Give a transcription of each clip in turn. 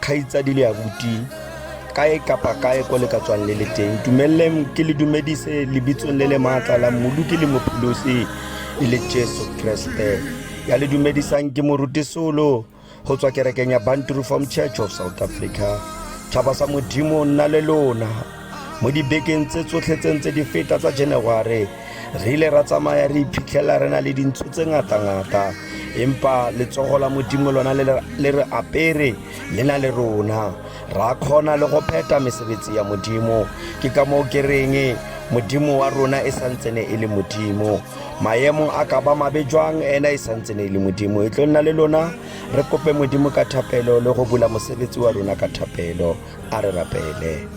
kgaitsadi le abuti kae kapa kae ko le ka tswang le le teng dumeleleng ke le dumedise lebitsong le le maatla la mmolu ke le mopholosi e le jesu kreste ya le dumedisang ke moruti solo go tswa kerekeng ya bantru form church of south africa tšhaba sa modimo nna le lona Mo dibekeng tse tsotlhe tse ntse di feta tsa January, re ile ra tsamaya re iphitlhela re na le dintsho tse ngata-ngata, empa letsogo la Modimo lona le re apere le na le rona, ra kgona le go pheta mesebetsi ya Modimo. Ke ka moo ke reng Modimo wa rona e santsene e le Modimo. Maemo a ka ba mabe jwang ena e santsene e le Modimo. E tlo nna le lona re kope Modimo ka thapelo le go bula mosebetsi wa rona ka thapelo. a re rapele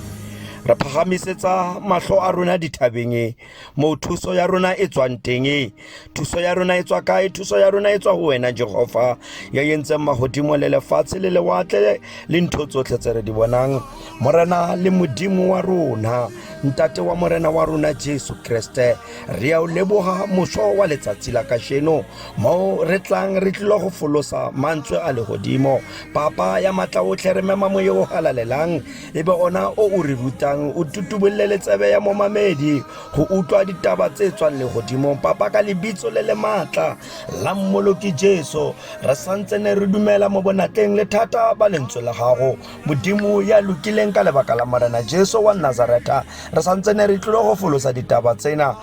re phagamisetsa matlho a rona dithabeng e moo thuso ya rona e tswang teng e thuso ya rona e tswa kae thuso ya rona e tswa go wena jehofa ya yentseng magodimo le lefatshe le lewatle le ntho tsotlhe tse re di bonang morena le modimo wa rona ntate wa morena wa rona jesu kreste re ya o leboga moso wa letsatsi la kasheno moo re tlang re tlile go folosa mantswe a legodimo Papa ya matlaotlhe re mema moye o galalelang e be ona o o re rutang o tutubolole letsebe ya momamedi go utlwa ditaba tse tswang le godimo papa ka lebitso le le maatla la mmoloki jesu re santse ne re dumela mo bonatleng le thata ba lentswe la gago modimo ya lokileng ka lebaka la morena jesu wa nazaretha re santse ne re tlile go folosa ditaba tsena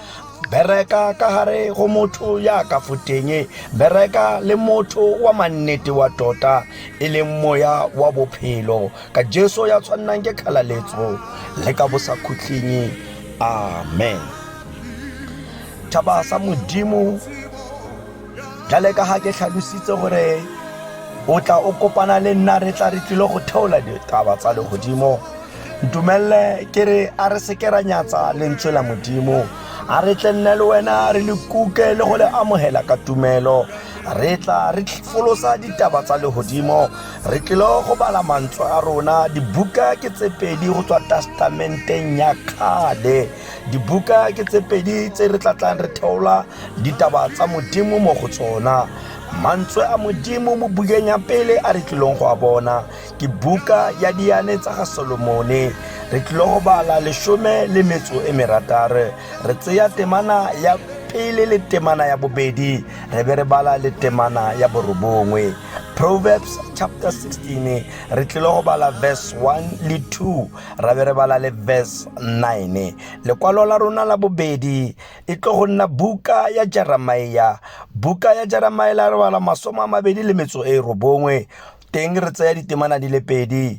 bereka ka gare go motho ya ka foteng bereka le motho wa mannete wa tota e leng moya wa bophelo ka jesu ya tshwannang ke kgalaletso le ka bosakhutlhing amen thaba sa modimo jale ka ga ke tlhalositse gore o tla o kopana le nna re tla re tlile go theola ditaba tsa legodimo ntumelele ke re a re seke ra nyatsa lentswe la modimo a re tle nne le wena re le kuke le go le amogela ka tumelo re tla re folosa ditaba tsa legodimo re tlilo go bala mantswe a rona dibuka ke tse pedi go tswa testamenteng ya kgale dibuka ke tse pedi tse re tlatlang re theola ditaba tsa modimo mo go tsona mantswe a modimo mo bukeng ya pele a re tlilong go a bona ke buka ya diane tsa ga solomone re tlile go bala lesome le metso e merataro re tseya temana ya pele le temana ya bobedi re be re bala le temana ya borobongwe proverbs chapter 16 re tlile go bala verse 1 le 2 ra be re bala le verse 9 lekwalo la rona la bobedi e tlo go nna buka ya jeremia buka ya jeremia la re bala masome a mabedi le metso e robongwe teng re tsaya ditemana di le pedi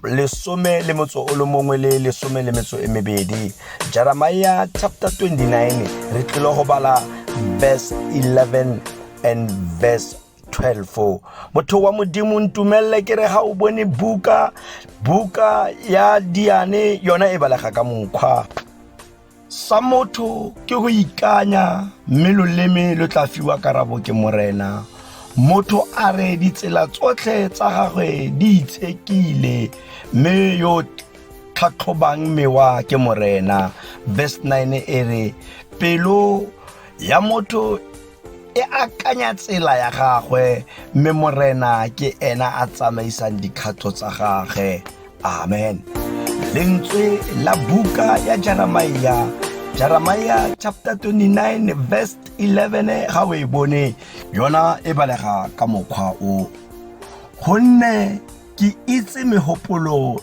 lesome le motso o le mongwe le lesome le metso e mebedi jeremiah chapter 29 re tlile go bala verse 11 and verse 12 motho wa modimo ntumelele ke re ga o bone buka buka ya diane yona e balega ka mokgwa sa motho ke go ikanya mme loleme lo tla fiwa karabo ke morena motho a re ditsela tsotlhe tsa gagwe di itshekile mme yo tlhatlhobang mewa ke morena verse 9 e re pelo ya motho e akanya tsela ya gagwe mme morena ke ena a tsamaisang dikgato tsa gagwe amen lentswe la buka ya jeremia jeremia chapter 29 verse 11 ga o e bone yona e balega ka mokgwa o gonne ke itse megopolo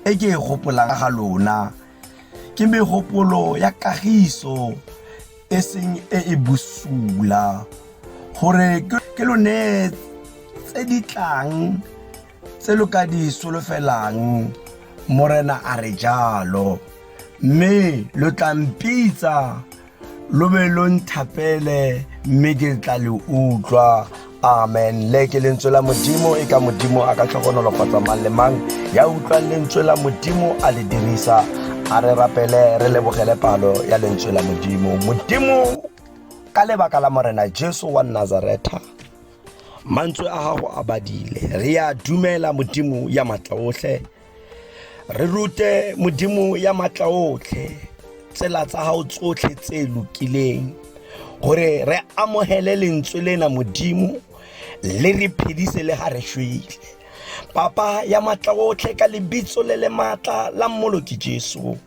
e ke e gopolang ga lona ke megopolo ya kagiso e seng e e bosula gore ke lone tse di tlang tse lo ka di solofelang morena a re jalo mme lo tla mpitsa lo be lo nthapele mme ke tla le utlwa amen le ke lentswe la modimo e ka modimo a ka tlhogonolofatsa mang le mang ya utlwang lentswe la modimo a le dirisa a re rapele re lebogele palo ya lentswe la modimo modimo ka lebaka la morena jesu wa nazaretha mantswe a gago a badile re a dumela modimo ya maatla otlhe re rute modimo ya matla otlhe tsela tsa gago tsotlhe tse lokileng gore re amogele lentswe lena modimo le re phedise le ga re shwele papa ya matla otlhe ka lebitso le le maatla la mmoloki jesu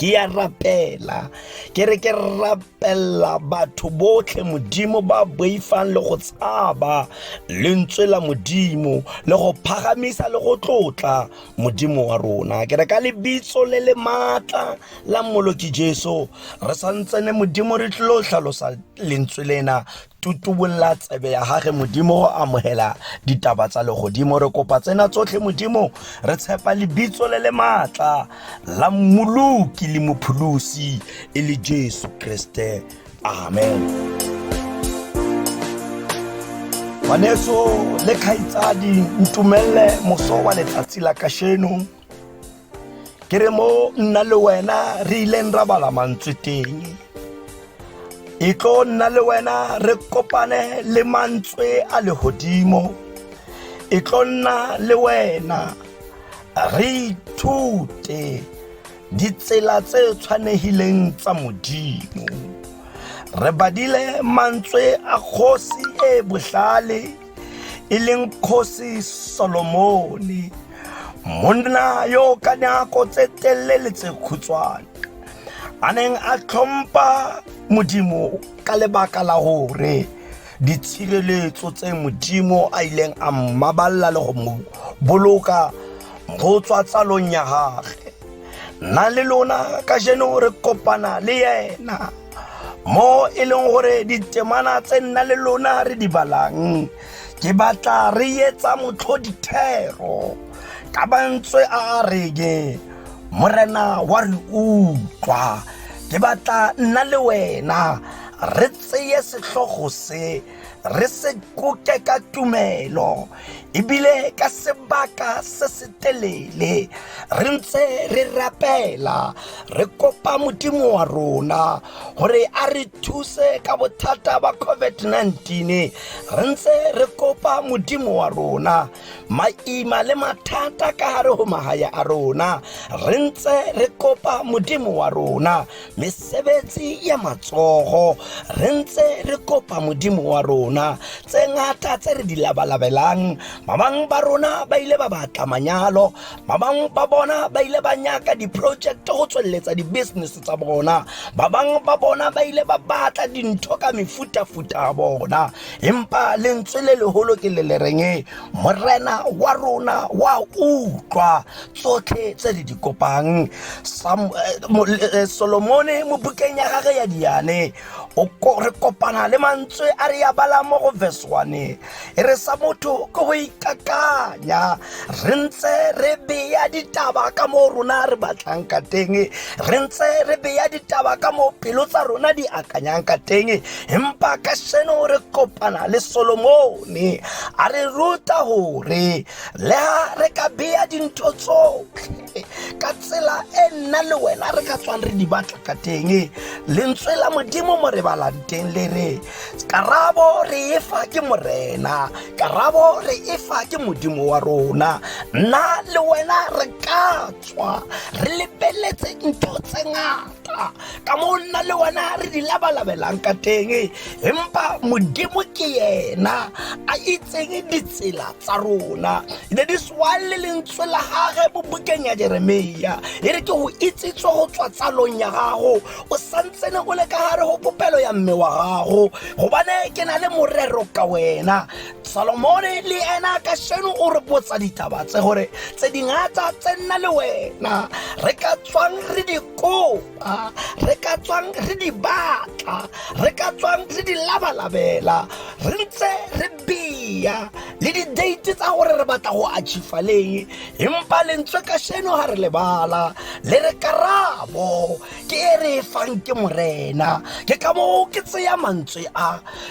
ke ya rapela ke re ke rapela batho botlhe modimo ba boifang le go tshaba lentswe la modimo le go phagamisa le go tlotla modimo wa rona ke re ka lebitso le le maatla la mmoloki jesu re santsene modimo re tlilo tlhalosa lentswe lena tutubolla tsebe ya gage modimo go amogela ditaba tsa legodimo re kopa tsena tsotlhe modimo re tshepa lebitso le le maatla la mmoloki le mopholosi e le jesu kriste amen ngwaneso le kgaitsadi ntumelele moso wa letsatsi la kasheno ke re mo nna le wena re ileng ra bala mantswe teng e tlo nna le wena re kopane le mantswe a legodimo e tlo nna le wena re ithute ditsela tse tshwanegileng tsa modimo re badile mantswe a kgosi e botlhale e leng kgosi solomone monna yo ka nako tse telele tse khutshwane a neng a tlhompha modimo ka lebaka la gore ditshireletso tse modimo a ileng a mmabalela le go mo boloka go tswa tsalong ya gage nna le lona ka jeno re kopana le yena mo e leng gore ditemana tse nna le lona re di balang ke batla re etsa motlho dithero ka bantswe a reke morena wa re utlwa ke batla nna le wena re tseye setlhogo se re se koke ka tumelo ebile ka sebaka se se telele re ntse re rapela re kopa modimo wa rona gore a re thuse ka bothata ba covid-19 re ntse re kopa modimo wa rona maima le mathata ka gare go magaya a rona re ntse re kopa modimo wa rona mesebetsi ya matsogo re ntse re kopa modimo wa rona tse ngata tse re di labalabelang ba bangwe ba rona ba ile ba batla manyalo ba bangwe ba bona ba ile ba nyaka di-project go tsweletsa di-business tsa bona ba bangwe ba bona ba ile ba batla dintho ka mefutafuta ya bona empa lentswe le legolo ke le le reng morena wa rona wa utlwa tsotlhe tse le di kopang eh, solomone mo bukeng ya gage ya diane re kopana le mantswe a re ya bala mo go verse one e re sa motho ko go ikakanya re ntse re beya ditaba ka mo rona re batlang ka teng re ntse re beya ditaba ka mo pelo tsa rona di akanyang ka teng empa ka seno re kopana le solomone a re ruta gore le ha re ka beya dintho tsotlhe ka tsela e nna le wena re ka tswang re di batla ka teng lentswe la modimo mo re balang teng le re karabo re e fa ke morena karabo re e fa ke modimo wa rona nna le wena re ka tswa re lebeletse ntho tse ngata tla ka mo nna le wena re di labalabelang ka teng empa modimo ke yena a itseng ditsela tsa rona ne di swang le lentswe la gage mo bukeng ya jeremia e re ke go itsitswe go tswa tsalong ya gago o santsene o le ka gare go popelo ya mme wa gago gobane ke na le morero ka wena salomone le ena ka seno o re botsa ditaba tse gore tse dingata tse nna le wena re ka tswang re di kopa re ka tswang re di batla re ka tswang re di labalabela re ntse re beya le di-date tsa gore re batla go achifa leng empa lentswe ka seno ga re lebala le re karabo ke e re e fang ke morena ke ka moo ke tseya mantswe a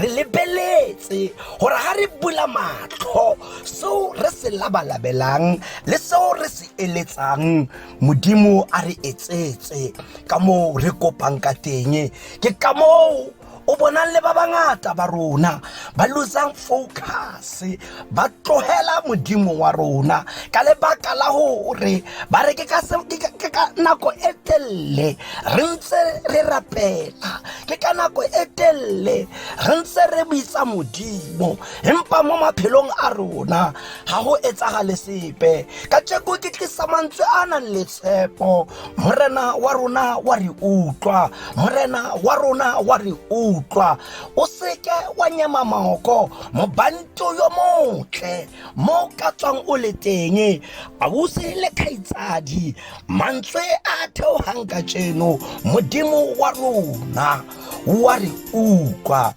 re lebeletse gore ga re bula matlho seo re se labalabelang le seo re se eletsang modimo a re etsetse ka moo re kopang ka teng ke ka moo o bonang le ba bangata ba rona ba losang focus ba tlogela modimo wa rona ka lebaka la gore ba re ke ka nako e telele re ntse re rapela ke ka nako e telele re ntse re bitsa modimo empa mo maphelong a rona ga go etsagale sepe ka tšeko ke tlisa mantswe a nang le tshepo morena wa rona wa re utlwa morena wa rona wa re utlwa o seke wa nyema moko mobanto yo motle mo ka tswang o le teng ausi le kgaitsadi mantswe a theogang ka tseno modimo wa rona wa re utlwa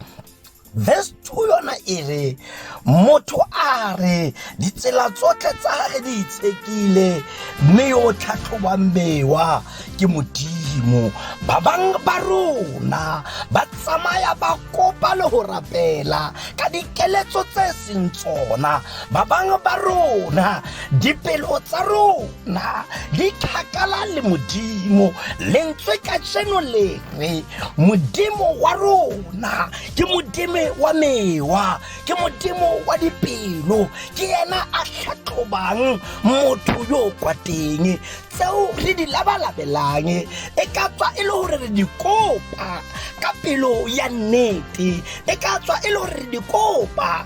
verse 2 yona e re Motho a re ditsela tsotlhe tsa gage di itshekile mme yo o tlhatlhobang bewa ke modimo ba bangwe ba rona ba tsamaya ba kopa le go rapela ka dikeletso tse seng tsona ba bangwe ba rona dipelo tsa rona di kgakala le modimo lentswe ka jeno le re modimo wa rona ke modimo wa mewa ke modimo wa dipelo ke ena a tlhatlhobang motho yo o kwa teng tseo re di labalabelang e ka tswa e le gore re di kopa ka pelo ya nnete e ka tswa e le gore re di kopa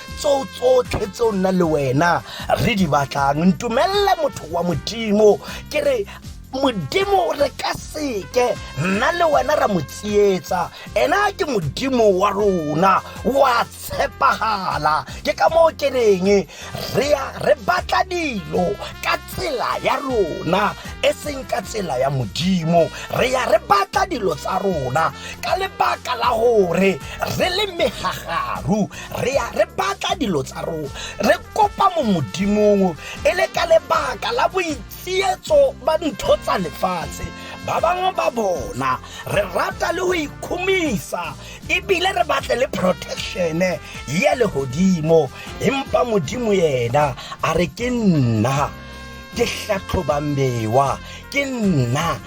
tseo tsotlhe tseo nna le wena re di batlang ntumelele motho wa modimo ke re modimo re ka seke nna le wena ra mo tsietsa ena ke modimo wa rona wa tshepagala ke ka moo ke reng re ya re batla dilo ka tsela ya rona e seng ka tsela ya modimo re ya re batla dilo tsa rona ka lebaka la gore re le megagaru re ya re batla dilo tsa rona re kopa mo modimong e le ka lebaka la boitsietso ba ntho tsa lefatshe ba bangwe ba bona re rata le go ikhomisa ebile re batle le protectione ya legodimo empa modimo yena a re ke nna ke tlhatlhobang mewa ke nna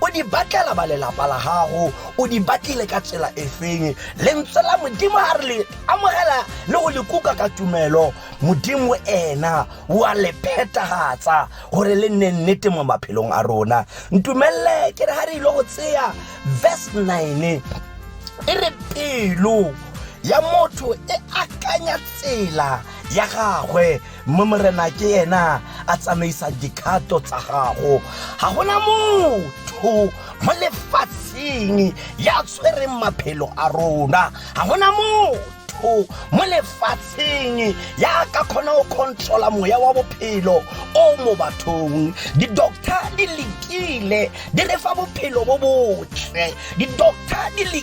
o di batlela ba lelapa la gago o di batlile ka tsela e feng lentswe la modimo a re le amogela le go le kuka ka tumelo modimo ena wa le phetagatsa gore le nne nnete mo maphelong a rona ntumelele ke re ga re ile go tseya verse 9 e re pelo ya motho e akanya tsela ya gagwe mme morena ke ena a tsamaisa dikgato tsa gago ga gona motho mo lefatsheng ya tshwereng maphelo a rona ga gona motho mo lefatsheng ya ka kgona go controla moya wa bophelo o mo bathong di-doctor di lekile di re fa bophelo bo botle di-doctor di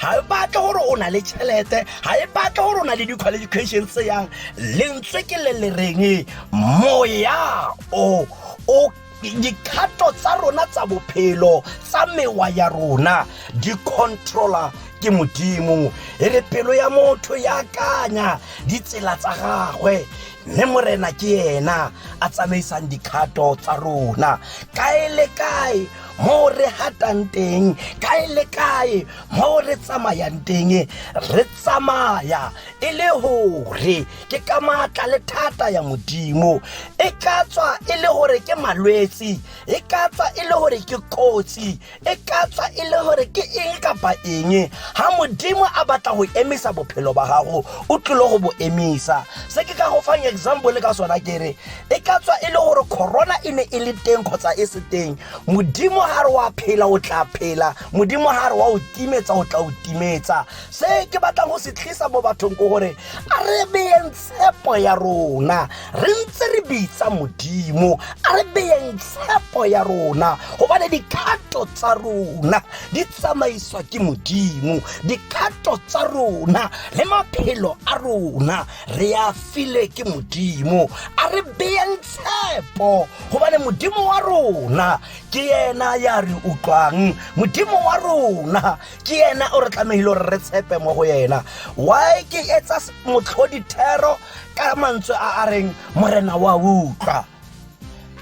ga e batle gore o na le tšhelete ga e batle gore o na le di-qualification tse yang lentswe ke le le reng moya o o dikgato tsa rona tsa bophelo tsa mewa ya rona di controla ke modimo e re pelo ya motho ya akanya ditsela tsa gagwe mme morena ke yena a tsamaisang dikgato tsa rona kae le kae mo re hatang teng kae le kae mo re tsamayang teng re tsamaya e le gore ke ka maatla le thata ya modimo e ka tswa e le gore ke malwetsi e ka tswa e le gore ke kotsi e ka tswa e le gore ke eng kapa eng ha modimo a batla go emisa bophelo ba gago o tlile go bo emisa se ke ka go fang example ka sona ke re e ka tswa e le gore corona e ne e le teng kgotsa e se teng modimo ga re wa phela o tla phela modimo ga re wa o timetsa o tla o timetsa se ke batlang go se tlisa mo bathong ko gore a re beyeng tshepo ya rona re ntse re bitsa modimo a re beyeng tshepo ya rona gobane dikgato tsa rona di tsamaiswa ke modimo dikgato tsa rona le maphelo a rona re a filwe ke modimo a re beyeng tshepo gobane modimo wa rona ke yena ya re utlwang modimo wa rona ke yena o re tlamehile gore re tshepe mo go yena why ke etsa motlhodithero ka mantswe a a reng morena wa utlwa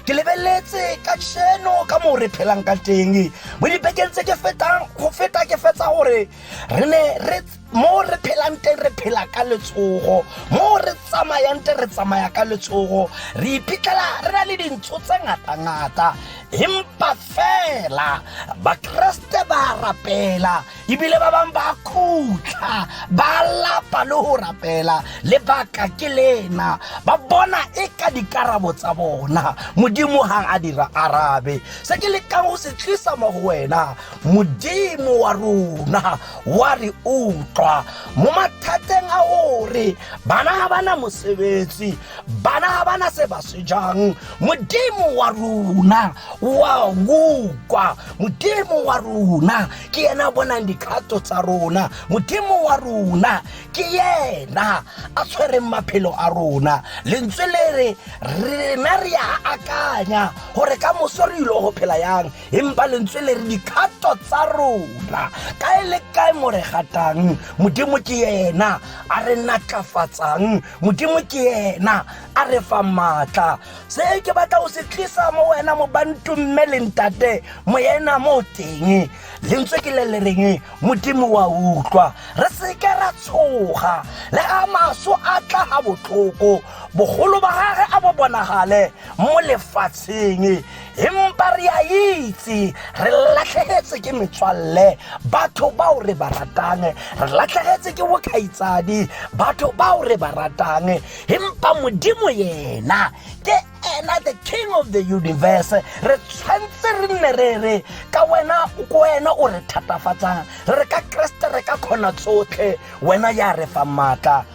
ke lebeletse ka sheno ka moo re phelang ka teng mo dibekeng tse ke fetang go feta ke fetsa gore re ne re mo re phelang teng re phela ka letsogo mo re tsamayang teng re tsamaya ka letsogo re iphitlhela re na le dintho tse ngata-ngata empa fela bakeresete ba rapela ebile ba bangwe ba khutla ba lapa le go rapela lebaka ke lena ba bona e ka dikarabo tsa bona modimo ga a dira arabe se ke lekang go se tlisa mo go wena modimo wa rona wa re utlwa mo mathateng a o re bana ga bana mosebetsi bana ga bana se ba se jang modimo wa rona wa ukwa modimo wa rona ke yena bonang dikgato tsa rona modimo wa rona ke yena a tshwereng maphelo a rona lentswe le re rena re a akanya gore ka moso re ile go phela yang empa lentswe le re dikgato tsa rona kae le kae mo re gatang modimo ke ena a re natlafatsang modimo ke ena a re fa maatla se ke batla o se tlisa mo wena mo bantu mme lentate mo ena mo teng lentswe ke le le reng modimo wa utlwa re seke ra tshoga le ga maso a tla ga botlhoko bogolo ba gage a bo bonagale mo lefatsheng empa re a itse re latlhegetse ke metswalle batho bao re ba ratang re latlhegetse ke bokgaitsadi batho bao re ba ratang empa modimo yena ke ena the king of the universe re tshwanetse re nne re re ka wena ko wena o re thatafatsang re re ka keresete re ka kgona tsotlhe wena ya re fa maatla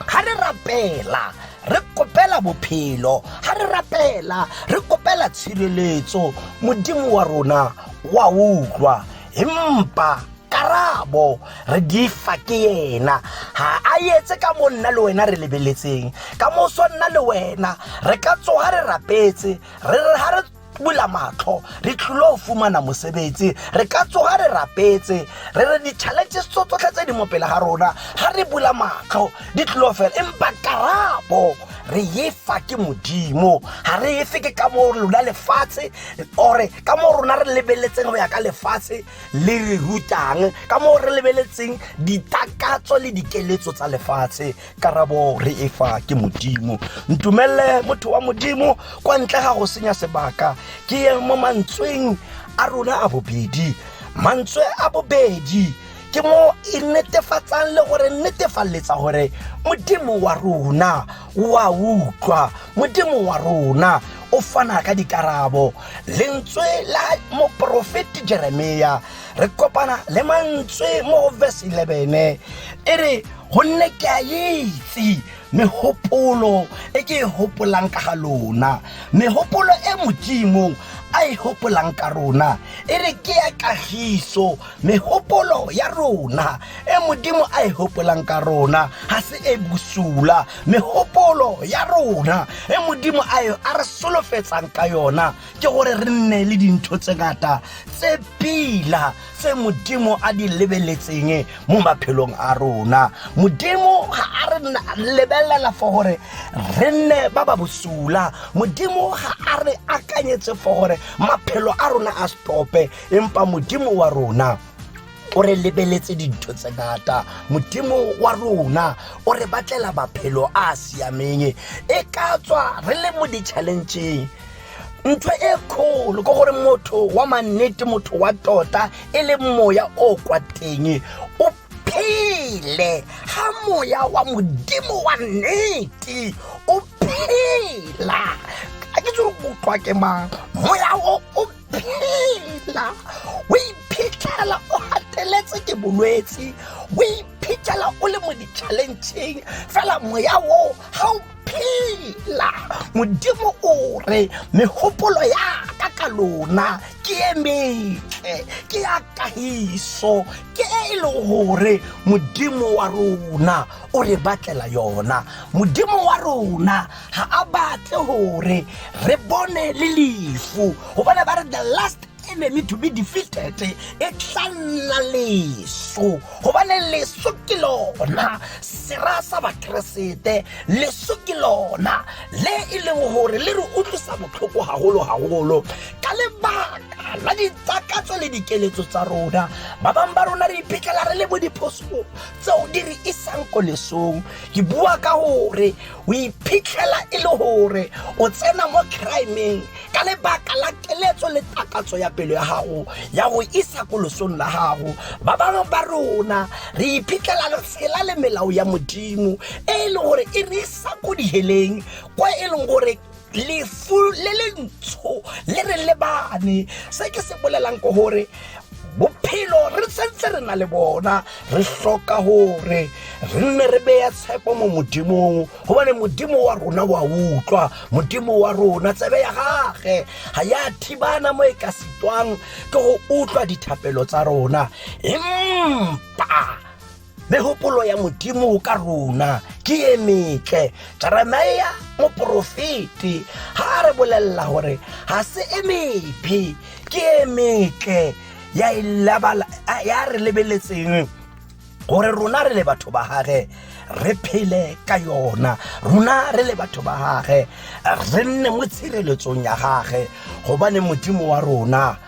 ga re rapela re kopela bophelo ga re rapela re kopela tshireletso modimo wa rona wa utlwa empa karabo re di fa ke yena ga a etse ka mo nna le wena re lebeletseng ka moso nna le wena re ka tsoga re rapetse re re ga re bula matlho re tlhole go fumana mosebetsi re ka tsoga re rapetse re re di-challenges tso tsotlhe tse di mo pele ga rona ga re bula matlho di tlhole fela empa karabo re efa ke modimo ga re efe ke ka mo lona lefatshe ore ka mo rona re lebeletseng go ya ka lefatshe le re rutang ka mo re lebeletseng ditakatso le dikeletso tsa lefatshe karabo re e fa ke modimo ntumelele motho wa modimo kwa ntle ga go senya sebaka ke ye mo mantsweng a rona a bobedi mantswe a bobedi ke mo e netefatsang le gore netefalletsa gore modimo wa rona wa utlwa modimo wa rona o fana ka dikarabo lentswe la moporofeti jeremia re kopana le mantswe mo verse 11 e re gonne ke a itse megopolo e ke e gopolang ka ga lona megopolo e modimo a e gopolang ka rona e re ke ya kagiso megopolo ya rona e modimo a e gopolang ka rona ga se e bosula megopolo ya rona e modimo a e, a re solofetsang ka yona ke gore re nne le dintho tse ngata tse pila tse modimo a di lebeletseng mo maphelong a rona modimo ga a re lebelela for gore re nne ba ba bosula modimo ga a re akanyetse for gore maphelo a rona a stope empa modimo wa rona o re lebeletse dintho tse ngata modimo wa rona o re batlela maphelo a a siameng e ka tswa re le mo di-challengeng ntho e kgolo ke gore motho wa mannete motho wa tota e le moya o kwa teng o phele ga moya wa modimo wa nnete o phela a ke tsere utlwa ke mang moya o o phela o iphitlhela o gateletse ke bolwetse o iphitlhela o le mo di-challengeng fela moya o ga o phela modimo o re megopolo ya ka ka lona ke e metle ke ya kagiso ke e e leng gore modimo wa rona o re batlela yona modimo wa rona ga a batle gore re bone le lefu gobane ba re the last e meme to be defeated e tla nna leso gobane leso ke lona sera sa bakeresete leso ke lona le e leng gore le re utlwisa botlhoko gagolo-gagolo ka lebaka la ditsakatso le dikeletso tsa rona ba bangwe ba rona re iphitlhela re le mo diphosong tseo di re isang ko lesong ke bua ka gore o iphitlhela e le gore o tsena mo crimeng ka lebaka la keletso le takatso ya pelo ya gago ya go isa ko losong la gago ba bangwe ba rona re iphitlhela le tshela le melao ya modimo e e leng gore e re isa ko diheleng kwa e leng gore lefu le le ntsho le re lebane se ke se bolelang ko gore bophelo re sentse re na le bona re hloka gore re nne re beya tshepo mo modimong gobane modimo wa rona wa utlwa modimo wa rona tsebe ya gage ga ya thibana mo e ka sitwang ke go utlwa dithapelo tsa rona empa megopolo ya modimo ka rona ke e metle jeremia moporofeti ga a re bolelela gore ga se e mephe ke e metle ya e labala- a- ya re lebeletseng gore rona re le batho ba gage re phele ka yona rona re le batho ba gage re nne mo tshireletsong ya gage gobane modimo wa rona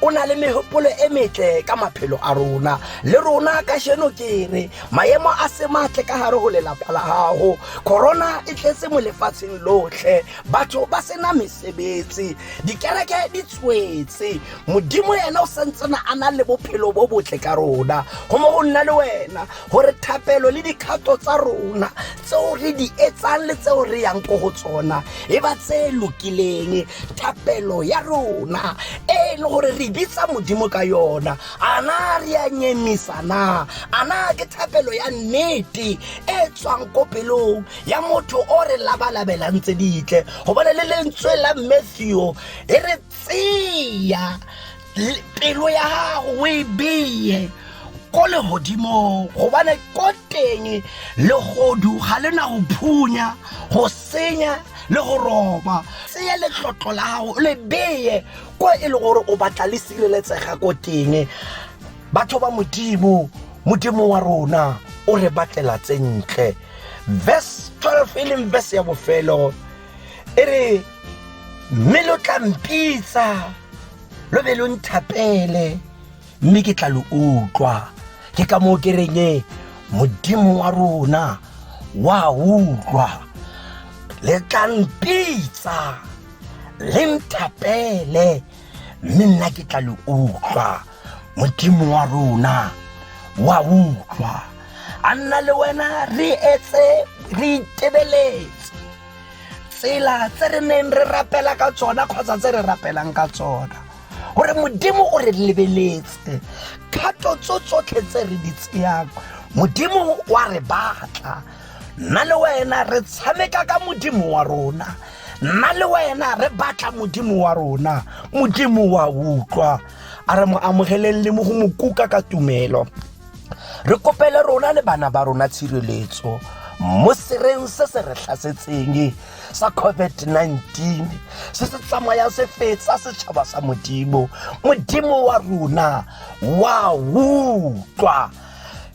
o na le megopolo e metle ka maphelo a rona le rona ka sheno ke re maemo a se matle ka gare go lelapa la gago corona e tletse mo lefatsheng lotlhe batho ba sena mesebetsi dikereke di tswetse modimo ena o santsena a na le bophelo bo botle ka rona go mo go nna le wena gore thapelo le dikgato tsa rona tseo re di etsang le tseo re yang ko go tsona e ba tse lokileng thapelo ya rona e e le gore re bitsa modimo ka yona a na re a nyemisa na a na ke thapelo ya nnete e tswang ko pelong ya motho o re labalabelang tse ditle gobane le lentswe la matthew e re tseya pelo ya gago o e beye ko legodimong gobane ko teng legodu ga le na go phunya go senya le go roba tseye letlotlo la gago le beye ko e le gore o batla le sireletsega ko teng batho ba modimo modimo wa rona o re batlela tsentle verse 12 e leng verse ya bofelo e re mme lo tla mpitsa lo be lo nthapele mme ke tla lo utlwa ke ka moo ke reng e, modimo wa rona wa utlwa le tla mpitsa le nthapele mme nna ke tla lo utlwa modimo wa rona wa utlwa a nna le wena re etse re itebeletse tsela tse re neng re rapela ka tsona kgotsa tse re rapelang ka tsona gore modimo o re lebeletse kgato tso tsotlhe tse re di tseyang modimo wa re batla nna le wena re tshameka ka modimo wa rona nna le wena re batla modimo wa rona modimo wa utlwa a re mo amogeleng le mo go mo kuka ka tumelo re kopele rona le bana ba rona tshireletso mo sereng se se re tlhasetseng sa covid-19 se se tsamaya se fetsa setšhaba sa modimo modimo wa rona wa utlwa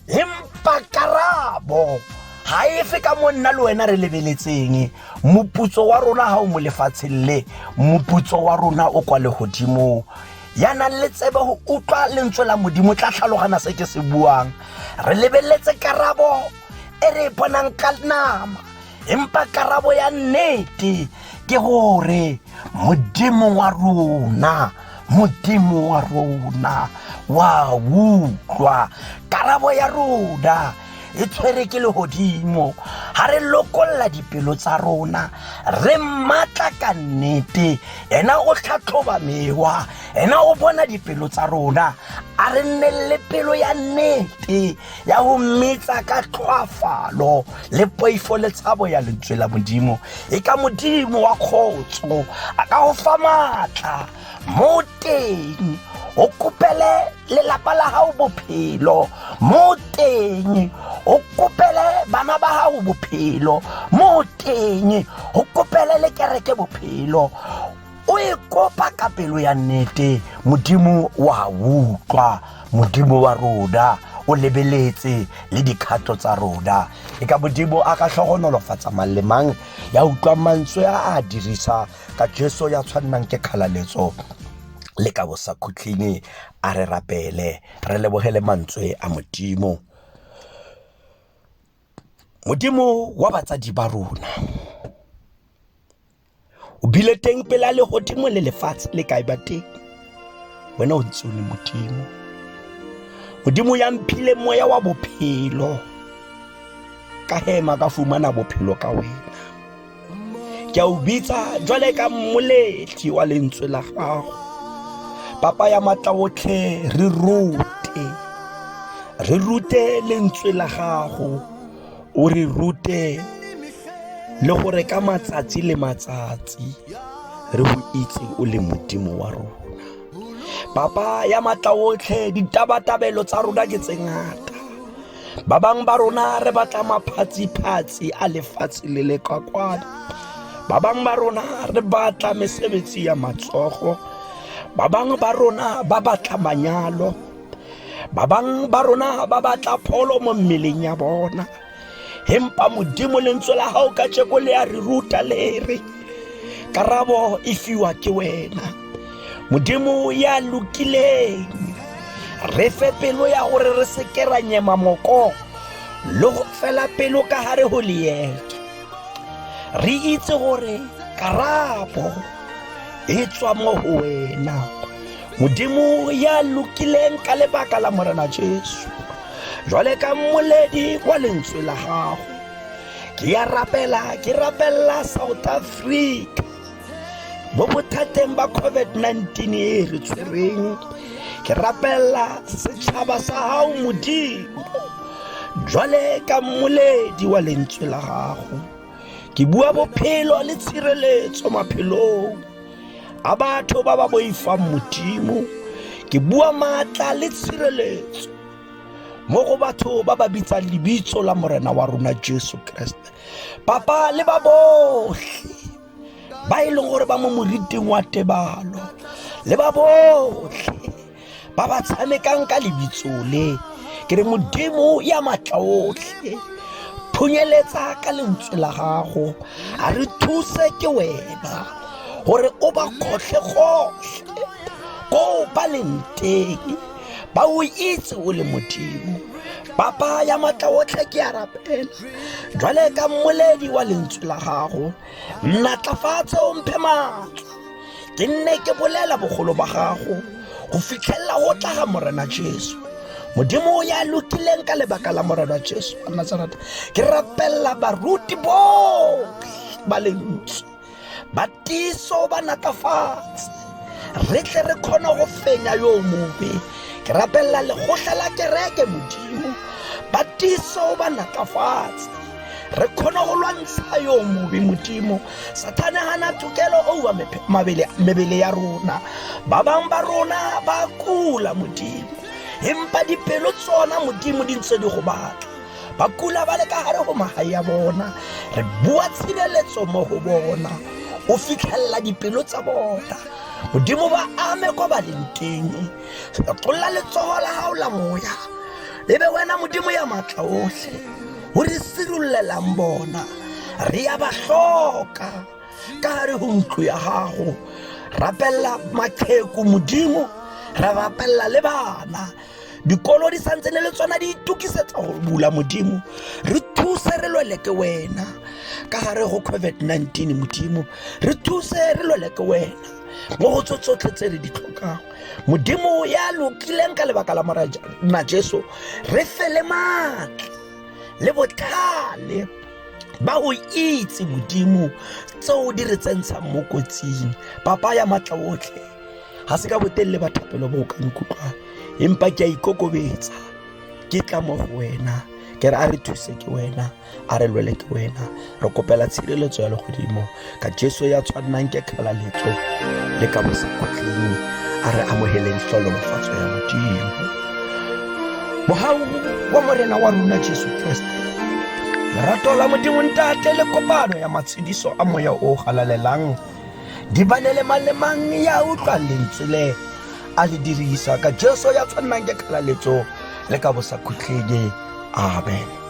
empa karabo ga efe ka mo nna le wena re lebeletseng moputso wa rona ga o mo lefatsheng le moputso wa rona o kwa legodimong ya nang le tsebe go utlwa lentswe la modimo tla tlhalogana se ke se buang re lebeletse karabo e re e bonang ka nama empa karabo ya nnete ke gore modimo wa rona modimo wa rona wa utlwa karabo ya rona e tshwere ke legodimo ga re lokolla dipelo tsa rona re matla ka nnete ena o tlhatlhoba mewa ena o bona dipelo tsa rona a re nne le pelo ya nnete ya go mmetsa ka tlhoafalo le poifo le tshabo ya lentswe la modimo e ka modimo wa kgotso a ka go fa maatla mo teng o kopele lelapa la gago bophelo mo teng o kopele bana ba gago bophelo mo teng o kopele le kereke bophelo o e kopa ka pelo ya nnete modimo wa utlwa modimo wa rona o lebeletse le dikgato tsa rona e ka modimo a ka tlhogonolofatsa mang le mang ya utlwang mantswe a a dirisa ka jesu ya tshwannang ke kgalaletso le ka bosa khutlhing a re rapele re lebogele mantswe a modimo modimo wa batsadi ba rona o bile teng pela legodimo le lefatshe le kae ba teng wena o ntse o le modimo modimo ya mphile moya wa bophelo ka hema ka fumana bophelo ka wena ke a o bitsa jwale ka mmoletli wa lentswe la gago papa ya matla otlhe re rute re rute lentswe la gago o re rute le gore ka matsatsi le matsatsi re go itse o le modimo wa rona papa ya matla otlhe ditabatabelo tsa rona ke tse ngata ba bangwe ba rona re batla maphatsi-phatsi a lefatshe le le kwa kwano ba bangwe ba rona re batla mesebetsi ya matsogo ba bangwe ba rona ba batla manyalo ba bang ba rona ba batla pholo mo mmeleng ya bona empa modimo lentswe la gago ka tšeko le a re ruta le re karabo e fiwa ke wena modimo ya lokileng re fe pelo ya gore re seke ra nyema moko le go fela pelo ka gare go leeto re itse gore karabo e tswa mo go wena modimo ya lokileng ka lebaka la morena jesu jwale ka mmoledi wa lentswe la gago ke ya rapela ke rapelela south africa mo bothateng ba covid-19 e re tshwereng ke rapelela setšhaba sa gago modimo jwale ka mmoledi wa lentswe la gago ke bua bophelo le tshireletso maphelong a batho ba ba boifang modimo ke bua maatla le tshireletso mo go batho ba ba bitsang lebitso la morena wa rona jesu kreste papa le ba botlhe ba e leng gore ba mo moriting wa tebalo le ba botlhe ba ba tshamekang ka lebitso le ke re modimo ya matla otlhe phunyeletsa ka lentswe la gago a re thuse ke wena gore o ba kgotlhe gotlhe ko ba leng teng ba o itse o le modimo papa ya matla otlhe ke a rapela jwale ka mmoledi wa lentswe la gago Natlafatse o mphe maatla ke nne ke bolela bogolo ba gago go fitlhelela go tla ga morena jesu modimo o ya lokileng ka lebaka la morena jesu wa nazareta ke rapelela baruti botlhe ba lentswe ba tiso ba natlafatse re tle re kgone go fenya yo mobe ke rapelela legotlha la kereke modimo ba tiso ba natlafatse re kgone go lwantsha yo mobe modimo sathane gana tokelo oa mebele ya rona ba bangwe ba rona ba kula modimo empa dipelo tsona modimo di ntse di go batla ba kula ba le ka gare go magae ya bona re bua tshireletso mo go bona o fitlhelela dipelo tsa bona modimo ba ame kwa ba leng teng tlolla letsogo la gago la moya e be wena modimo ya maatla otlhe o re sirollelang bona re ya ba tlhoka ka gare go ntlo ya gago rapelela maqheku modimo re rapelela le bana dikolo di santse ne le tsona di itukisetsa go bula modimo re thuse re lwele ke wena ka gare go covid-19 modimo re thuse re lwele ke wena mo go tso tsotlhe tse re di tlhokago modimo ya lokileng ka lebaka la morana jesu re fele maatla le botlhale ba go itse modimo tseo di re tsentshang mo kotsing papa ya matla otlhe ga se ka botelele bathapelo bo o ka nkutlwang empa ke a ikokobetsa ke tla mo go wena ke re a re thuse ke wena a re lwele ke wena re kopela tshireletso ya legodimo ka jesu ya tshwannang ke kgalaletso le ka bosekwatleng a re amogeleng tlolofatso ya modimo mogau wa morena wa rona jesu kreste lerato la modimo ntate le kopano ya matshediso a moya o galalelang di bane le malemang ya utlwa lentswe le a le dirisa ka jesu ya tshwannang ke kgalaletso le ka bosakhutlhedi amen